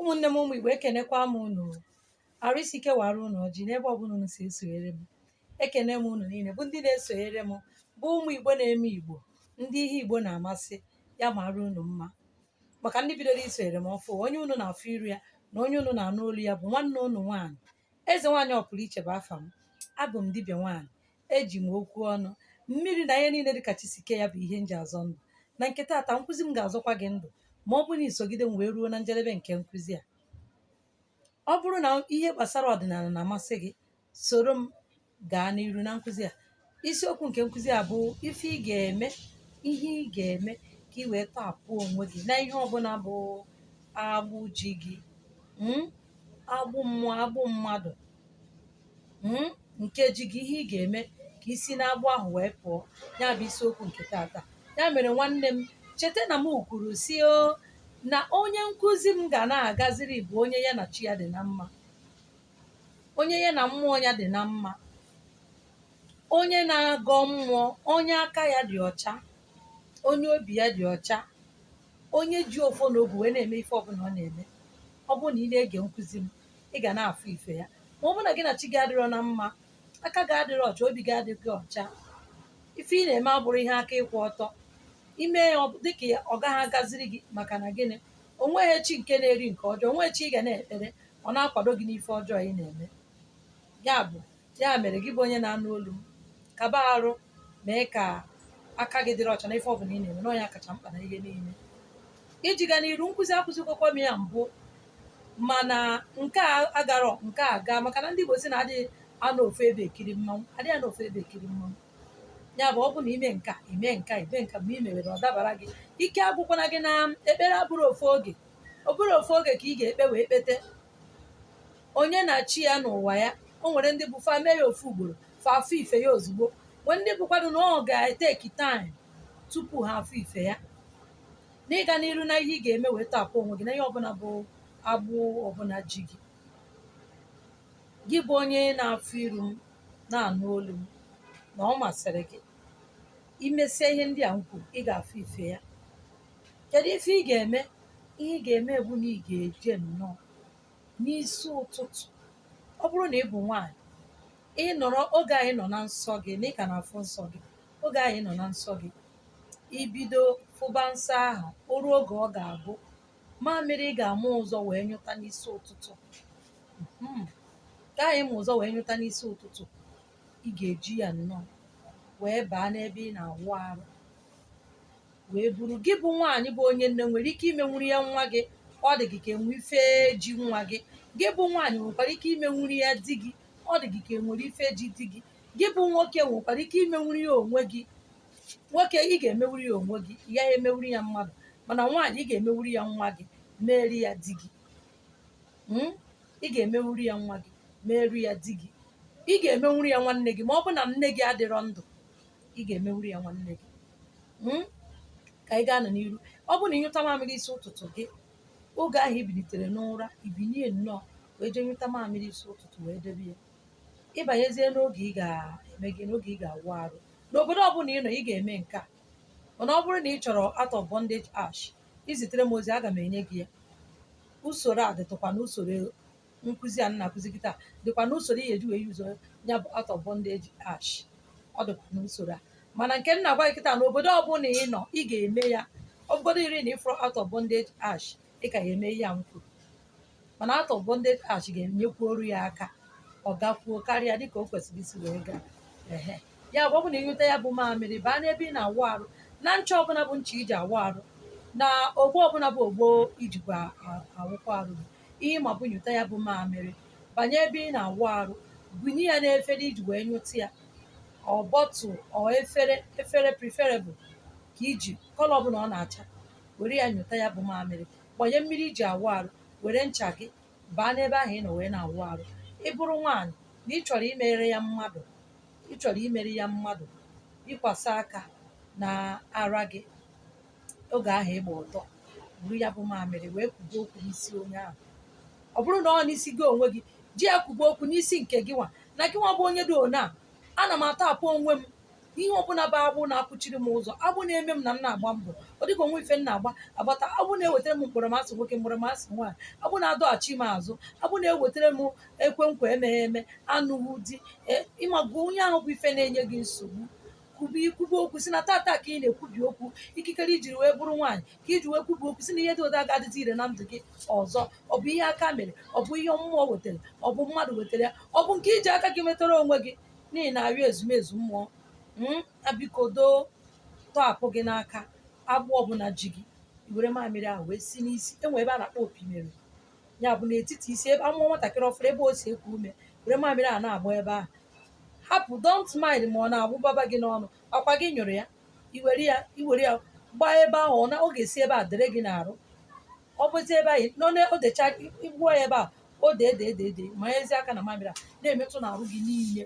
ụmụnne m ụmụ Igbo ekenekwa m unu arụ isi ike waara unu ọjị n'ebe ọbụla unu si esonyere m ekene m unu niile bụ ndị na-esonyere m bụ ụmụ Igbo na-eme Igbo ndị ihe Igbo na-amasị ya maara unu mma maka ndị bidoro isonyere m ọfụụ onye unu na-afụ iru ya na onye unu na-anụ olu ya bụ nwanne unu nwaanyị Eze nwaanyị ọpụrụiche bụ afa m. Abụ m dibịa nwaanyị. Eji m okwu ọnụ, mmiri na ihe niile dị ka chi si kee ya bụ ihe m ji azọ ndụ. Na nke taata, nkụzi m ga-azọkwa gị ndụ ma ọ bụrụ na i sogide m wee ruo na njedebe nke nkụzi a. Ọ bụrụ na ihe gbasara ọdịnala na-amasị gị, soro m gaa n'iru na nkụzi a isiokwu nke nkụzi a bụ ife ị ga-eme ihe ị ga-eme ka ị wee tọhapụ onwe gị na ihe ọbụla bụ agbụ ji gị mm, agbụ mmụọ agbụ mmadụ mm, nke ji gị ihe ị ga-eme ka i si n'agbụ ahụ wee pụọ ya bụ isiokwu nke taata ya mere nwanne m cheta na m kwuru sị o na onye nkụzi m ga na-agaziri bụ onye ya na chi ya dị na mma onye ya na mmụọ ya dị na mma onye na-agọ mmụọ onye aka ya dị ọcha onye obi ya dị ọcha onye ji ọfọ na ogu wee na-eme ife ọbụla ọ na-eme ọ bụrụ na ị na-ege nkụzi m ị ga na-afụ ife ya ma ọ bụrụ na gị na chi gị adịrọ na mma aka gị adịrọ ọcha obi gị adịghị ọcha ife ị na-eme abụrọ ihe aka ịkwụ ọtọ i mee ya ọ- dịka ya ọ gaghị agaziri gị maka na gịnị o nweghị chi nke na-eri nke ọjọọ o nweghị chi ị ga na-ekpere ọ na-akwado gị n'ife ọjọọ ị na-eme ya bụ ya mere gị bụ onye na-anụ olu m kaba arụ mee ka aka gị dịrị ọcha na ife ọbụla ị na-eme na ọ nya kacha mkpa na ihe niile iji ga n'iru nkụzi a akụzigokwa m ya mbụ mana nke a agarọ nke a gaa maka na ndị Igbo sị na adịghị anọ ofu ebe ekiri mmanwụ adịghị anọ ofu ebe ekiri mmanwụ ya bụ ọ bụ na i mee nke a i mee nke a i mee nke a mgbe i mewere ọ dabara gị ike agwụkwana gị na ekpere abụrọ ofu oge ọ bụrọ ofu oge ka ị ga-ekpe wee kpete onye na chi ya n'ụwa ya o nwere ndị bụ fa mee ya ofu ugboro fa afụ ife ya ozugbo nwee ndị bụkwanụ na ọ ga-etake time tupu ha afụ ife ya n'ịga n'iru na ihe ị ga-eme wee tọhapụ onwe gị na ihe ọbụla bụ agbụ ọbụla ji gị gị bụ onye na-afụ iru m na-anụ olu m na ọ masịrị gị i mesie ihe ndị a m kwuru ị ga-afụ ife ya Kedu ife ị ga-eme? Ihe ị ga-eme bụ na ị ga-eje nnọọ n'isi ụtụtụ. Ọ bụrụ na ị bụ nwaanyị, ị nọrọ oge ahụ ị nọ na nsọ gị na ị ka na-afụ nsọ gị, oge ahụ ị nọ na nsọ gị, i bido fụba nsọ ahụ, o ruo oge ọ ga-abụ mamịrị ị ga-ama ụzọ wee nyụta n'isi ụtụtụ. Mhm. Nke ahụ ị ma ụzọ wee nyụta n'isi ụtụtụ, ị ga-eji ya nnọọ wee baa n'ebe ị na-awụ arụ. wee buru gị bụ nwaanyị bụ onye nne nwere ike imenwuru ya nwa gị ọ dị gị ka enwe ife ji nwa gị gị bụ nwaanyị nwekwara ike imenwuru ya di gị ọ dị gị ka enwere ife ji di gị gị bụ nwoke nwekwara ike imenwuru ya onwe gị nwoke ị ga-emenwuru ya onwe gị ị gaghị emenwuru ya mmadụ mana nwaanyị ị ga-emenwuru ya nwa gị meeri ya di gị Mm? ị ga-emenwuru ya nwa gị meeri ya di gị ị ga-emenwuru ya nwanne gị ma ọ bụ na nne gị adịrọ ndụ ị ga-emenwuru ya nwanne gị Mm? ka anyị gaanụ n'iru ọ bụrụ na ịnyụta mamịrị isi ụtụtụ gị oge ahụ ibinitere n'ụra ibinie nnọọ wee jee nyụta mamịrị isi ụtụtụ wee debe ya ịbanyezie n'oge ị ga-eme gị n'oge ị ga-awụ arụ n'obodo ọbụla ị nọ ị ga-eme nke a mana ọ bụrụ na ị chọrọ out of bondage ash izitere m ozi aga m enye gị ya usoro a dịtụkwa na usoro nkụzi a m na-akụzi kịta dịkwa n'usoro ị ga-eji wee use ya bụ out of bondage ash ọ dịkwa n'usoro a mana nke m na-agwa gị kịta na obodo ọbụla ị nọ ị ga-eme ya ọ bụgodiri na ịfụrọ out of bondage ash ị ka ya eme ihe a m kwuru mana out of bondage ash ga-enyekwuoro ya aka ọ gakwuo karịa dịka o kwesịrị isi wee gaa ehe ya bụ ọ bụ na ịnweta ya bụ mamịrị baa n'ebe ị na-awụ arụ na ncha ọbụla bụ ncha iji awụ arụ na ogbo ọbụla bụ ogbo ijikwa awụkwa arụ ihe ma bụ nyụta ya bụ mamịrị banye ebe ị na-awụ arụ bunye ya n'efere iji wee nyụta ya ọ bottle ọ efere efere preferable ka iji colour ọbụla ọ na-acha were ya nyụta ya bụ mamịrị gbanye mmiri iji awụ arụ were ncha gị baa n'ebe ahụ ị nọ wee na-awụ arụ ị bụrụ nwaanyị na ị chọrọ imere ya mmadụ ị chọrọ imere ya mmadụ ịkwasa aka na ara gị oge ahụ ịgba ọtọ buru ya bụ mamịrị wee kwube okwu n'isi onye ahụ ọ bụrụ na ọ n'isi gị onwe gị ji ya kwube okwu n'isi nke gị nwa na gị nwa bụ onye dị one a ana m atọhapụ onwe m ihe ọbụla bụ agbụ na-akwụchiri m ụzọ agbụ na-eme m na m na-agba mbọ ọ dịka o nwe ife m na-agba agbata agbụ na-ewetara m mkpọrọmasị nwoke mkpọrọmasị nwaanyị agbụ na-adọghachi m azụ agbụ na-ewetara m ekwe nkwa emeghị eme anụghị di ịmago onye ahụ bụ ife na-enye gị nsogbu kwubi ikwube okwu si na tata ka ị na-ekwubi okwu ikikere ijiri wee bụrụ nwaanyị ka iji wee kwubi okwu si na ihe dị otu a aga adịzi ire na ndụ gị ọzọ ọ bụ ihe aka mere ọ bụ ihe mmụọ wetara ọ bụ mmadụ wetara ya ọ bụ nke iji aka gị metara onwe gị na ị na-arịọ ezumezu mmụọ Mm, na biko doo tọhapụ gị n'aka agbụ ọbụla ji gị i were mamịrị ahụ wee si n'isi enwe ebe a na-akpọ opi mere ya bụ n'etiti isi ebe amụọ nwatakịrị ọfụrụ ebe o si eku ume were mamịrị a na-agba ebe ahụ hapụ don't mind ma ọ na-awụbaba gị n'ọnụ ọkwa gị nyụrụ ya iwere ya gbaa ebe ahụ ọ ga-esi ebe a dere gị n'arụ ọ bụzi ebe ahụ nọ na o decha igbuo ya ebe a o dee dee dee dee manyezie aka na mamịrị a na-emetụ n'arụ gị niile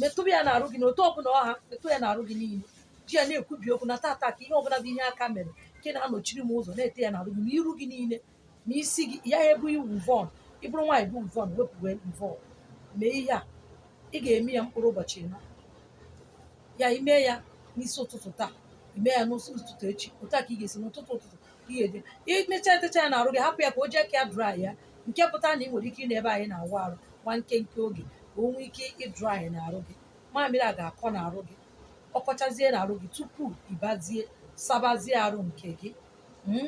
metụba ya n'arụ gị n'otu ọbụla ọ ha metụ ya n'arụ gị niile ji ya na-ekwubi okwu na tata ka ihe ọbụla bụ ihe aka mere nke na-anọchiri m ụzọ na-ete ya n'arụ gị na iru gị niile ma isi gị ya ebu weavon ị bụrụ nwaanyị bu weavon wepụ weavon mee ihe a ị ga-eme ya mkpụrụ ụbọchị ịnọ ya ime ya n'isi ụtụtụ taa ime ya n'isi ụtụtụ echi otu a ka ị ga-esi n'ụtụtụ ụtụtụ ka ị ga-eje imecha etecha ya n'arụ gị hapụ ya ka o ji aka ya dry ya nke pụta na ị nwere ike ịnọ ebe anyị na-awụ arụ nwa nkenke oge ka o nwee ike ịdry n'arụ gị mamịrị a ga-akọ n'arụ gị ọ kọchazie n'arụ gị tupu ịbazie sabazie arụ nke gị hmm,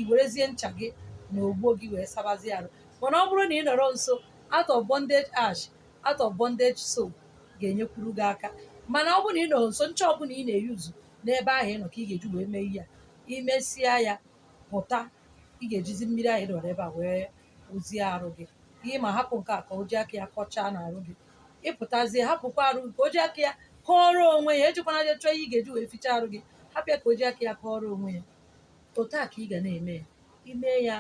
iwerezie ncha gị na ogbo gị wee sabazie arụ mana ọ bụrụ na ị nọrọ nso out of bondage ash out of bondage soap ga-enyekwuru gị aka mana ọ bụrụ na ị nọrọ nso ncha ọbụla ị na-euse n'ebe ahụ ị nọ ka ị ga-eji wee mee ihe a imesịa ya pụta ị ga-ejizi mmiri ahụ dọrọ ebe a wee wụzie arụ gị ihe ma hapụ nke a ka o ji aka ya kọchaa n'arụ gị ịpụtazie hapụkwa arụ gị ka o ji aka ya kọọrọ onwe ya ejikwana je chọọ ihe ị ga-eji wee fichaa arụ gị hapụ ya ka o ji aka ya kọọrọ onwe ya otu a ka ị ga na-eme ya ime ya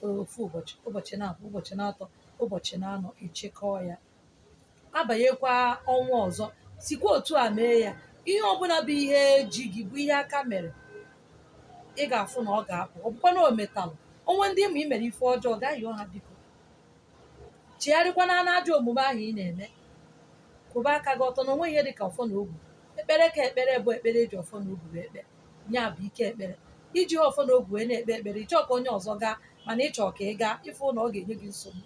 ofu ụbọchị ụbọchị na abụọ ụbọchị na atọ ụbọchị na anọ ịchịkọọ ya abanyekwa ọnwa ọzọ sikwa otu a mee ya ihe ọbụla bụ ihe ji gị bụ ihe aka mere ị ga-afụ na ọ ga-apụ ọ bụkwa na o metalụ o nwee ndị ị ma i mere ife ọjọọ gaa yọọ ha biko chigharịkwana n'ajọ omume ahụ ị na-eme kwụba aka gị ọtọ na o nweghị ihe dị ka ọfọ na ogu ekpere ka ekpere bụ ekpere eji ọfọ na ogu ekpe ya bụ ike ekpere iji ọfọ na ogu wee na-ekpe ekpere ịchọọ ka onye ọzọ gaa mana ịchọọ ka ị gaa ịfụ na ọ ga-enye gị nsogbu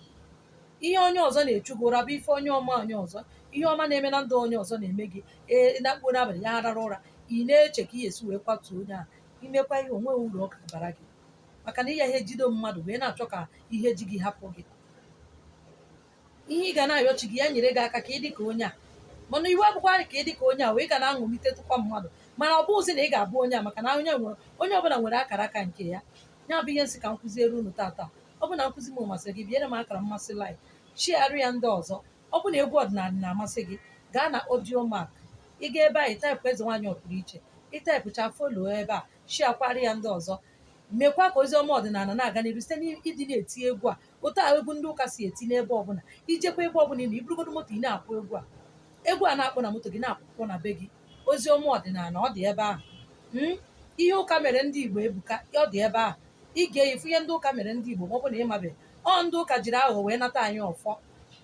ihe onye ọzọ na-echu gị ụra bụ ife onye ọma onye ọzọ ihe ọma na-eme na ndụ onye ọzọ na-eme gị ee na mkpụrụ abalị ya arara ụra ị na-eche ka ị esi wee kwatuo onye ahụ imekwa ihe a o nweghị uru ọ ga-abara gị maka na ị ya ejide mmadụ wee na-achọ ka ihe ji gị hapụ gị ihe ị ga na-ayọ chi gị ya nyere gị aka ka ị dị ka onye a mana iwe bụkwa ka ị dị ka onye a wee ga na-aṅụlite tụkwa mmadụ mana ọ bụghịzi na ị ga-abụ onye a maka na onye nwere onye ọbụla nwere akara aka nke ya ya bụ ihe m sị ka m kụziere unu tata ọ bụ na nkụzi m masịrị gị biere m akara mmasị like shiarụ ya ndị ọzọ ọ bụ na egwu ọdịnala na-amasị gị gaa na audiomack ị gaa ebe ahụ ịtaịpụ eze nwaanyị ọpụrụ iche ịtaịpụcha follow ebe a shiakwara ya ndị ọzọ mekwa ka ozi ọma ọdịnala na-aga n'iru site n'ịdị na-eti egwu a otu a egwu ndị ụka si eti n'ebe ọbụla ijekwa ebe ọbụla ị nọ iburugodo moto ị na-akpọ egwu a egwu a na-akpọ na moto gị na-akpọkwa na be gị ozi ọma ọdịnala ọ dị ebe ahụ Mm? ihe ụka mere ndị igbo ebuka ọ dị ebe ahụ ị ga-afụ ihe ndị ụka mere ndị igbo ma ọ bụ na ị mabeghị ọ ndị ụka jiri aghụghọ wee nata anyị ọfọ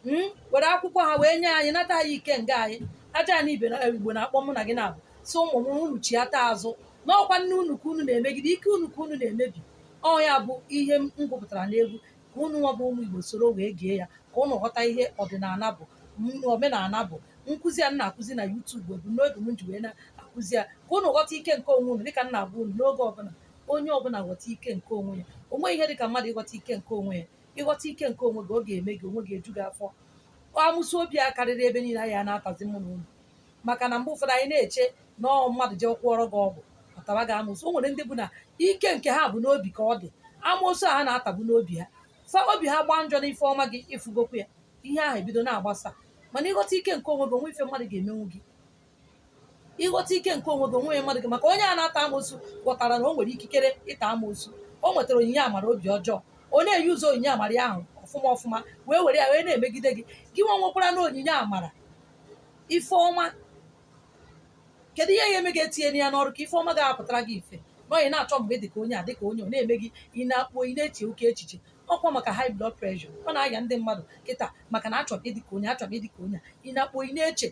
Mm, were akwụkwọ ha wee nye anyị nata anyị ikenga anyị ajana ibe na igbo na-akpọ mụ na gị na-abụ sị ụmụ m unu chiata azụ n'ọkwa nne unu ka unu na-emegide ike unu ka unu na-emebi ọ ya bụ ihe m gụpụtara n'egwu ka unu nwa bụ ụmụ igbo soro wee gee ya ka unu ghọta ihe ọdịnala bụ m- omenala bụ nkụzi a m na-akụzi na YouTube ebumnobi m ji wee na-akụzi ya ka unu ghọta ike nke onwe unu dịka m na-agwa unu n'oge ọbụla onye ọbụla ghọta ike nke onwe ya o nweghị ihe dị ka mmadụ ịghọta ike nke onwe ya ị ghọta ike nke onwe gị ọ ga-eme gị onwe gị eju gị afọ amoosu obi a karịrị ebe niile anyị a na-atazi mụ na unu maka na mgbe ụfọdụ anyị na-eche na ọ mmadụ jee gwọọrọ gị ọgwụ ọ taba gị amoosu o nwere ndị bụ na ike nke ha bụ n'obi ka ọ dị amoosu a ha na-atabu n'obi ha fa obi ha gbaa njọ n'ife ọma gị ị fụgokwa ya ihe ahụ ebido na-agbasa mana ị ghọta ike nke onwe gị o nweghị ife mmadụ ga-emenwu gị ị ghọta ike nke onwe gị onwe mmadụ gị maka onye a na-ata amoosu ghọtara na o nwere ikikere ịta amoosu o nwetara onyinye amara obi ọjọọ ọ na-euse onyinye amara ya ahụ ọfụma ọfụma wee were ya wee na-emegide gị gị nwa nwekwaranụ onyinye amara ife ọma kedu ihe ya-eme gị etinye ya n'ọrụ ka ife ọma ga-apụtara gị ife na onye na-achọ mgbe dị ka onye a dị ka onye ọ na-eme gị ị na-akpọ ị na-eche oke echiche ọkwa maka high blood pressure ọ na-aya ndị mmadụ kịta maka na a chọrọ ịdị ka onye a chọrọ ịdị ka onye a ị na-akpọ ị na-eche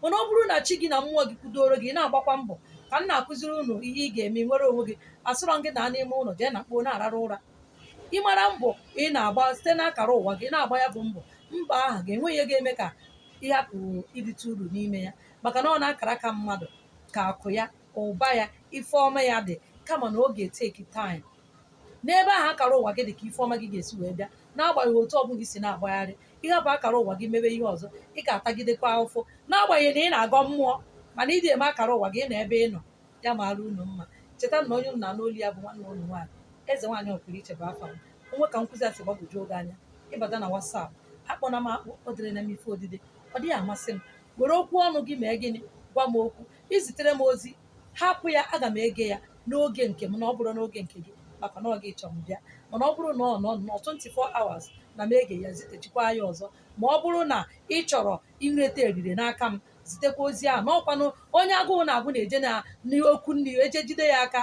mana ọ bụrụ na chi gị na mmụọ gị kwudoro gị ị na-agbakwa mbọ ka m na-akụziri unu ihe ị ga-eme nwere onwe gị asịrọ m gị nọ n'ime ụlọ daa na mkpo na-ararụ ụra ị mara mbọ ị na-agba site n'akara ụwa gị ị na-agba ya bụ mbọ mgbe ahụ ga-enwe ihe ga-eme ka ị hapụ irite uru n'ime ya maka na ọ n'akara aka mmadụ ka akụ ya ụba ya ife ọma ya dị kama na ọ ga-etake time n'ebe ahụ akara ụwa gị dị ka ife ọma gị ga-esi wee bịa n'agbanyeghị otu ọbụla i si na-agbagharị ị hapụ akara ụwa gị mebe ihe ọzọ ị ga-atagidekwa ahụfụ n'agbanyeghị na ị na-agọ mmụọ mana ị dị eme akara ụwa gị ị nọ ebe ị nọ ya maara unu mma cheta na onye unu na-anụ olu ya bụ nwanne unu nwaanyị eze nwaanyị ọpụrụ iche bụ afa m o nwee ka nkụzi a si gbagwojuo gị anya ị bata na WhatsApp akpọna m akpọ ederena m ife odide ọ dịghị amasị m were okwu ọnụ gị mee gịnị gwa m okwu i zitere m ozi hapụ ya aga m ege ya n'oge nke m na ọ bụrọ n'oge nke gị maka na ọ gị chọrọ m bịa mana ọ bụrụ na ọ nọ nọ 24 hours na m ege ya zitechikwa ya ọzọ ma ọ bụrụ na ị chọrọ inweta erere n'aka m zitekwa ozi ahụ n'ọkwanụ onye agụụ na-agụ na-eje na n'ọkụ nri eje jide ya aka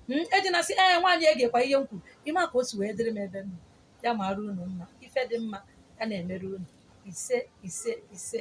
m eji na-asị eze nwaanyị egekwa ihe m kwuru ị ma ka o si wee dịrị m ebe m nọ. ya mara unu mma ife dị mma ya na-emere unu ise ise ise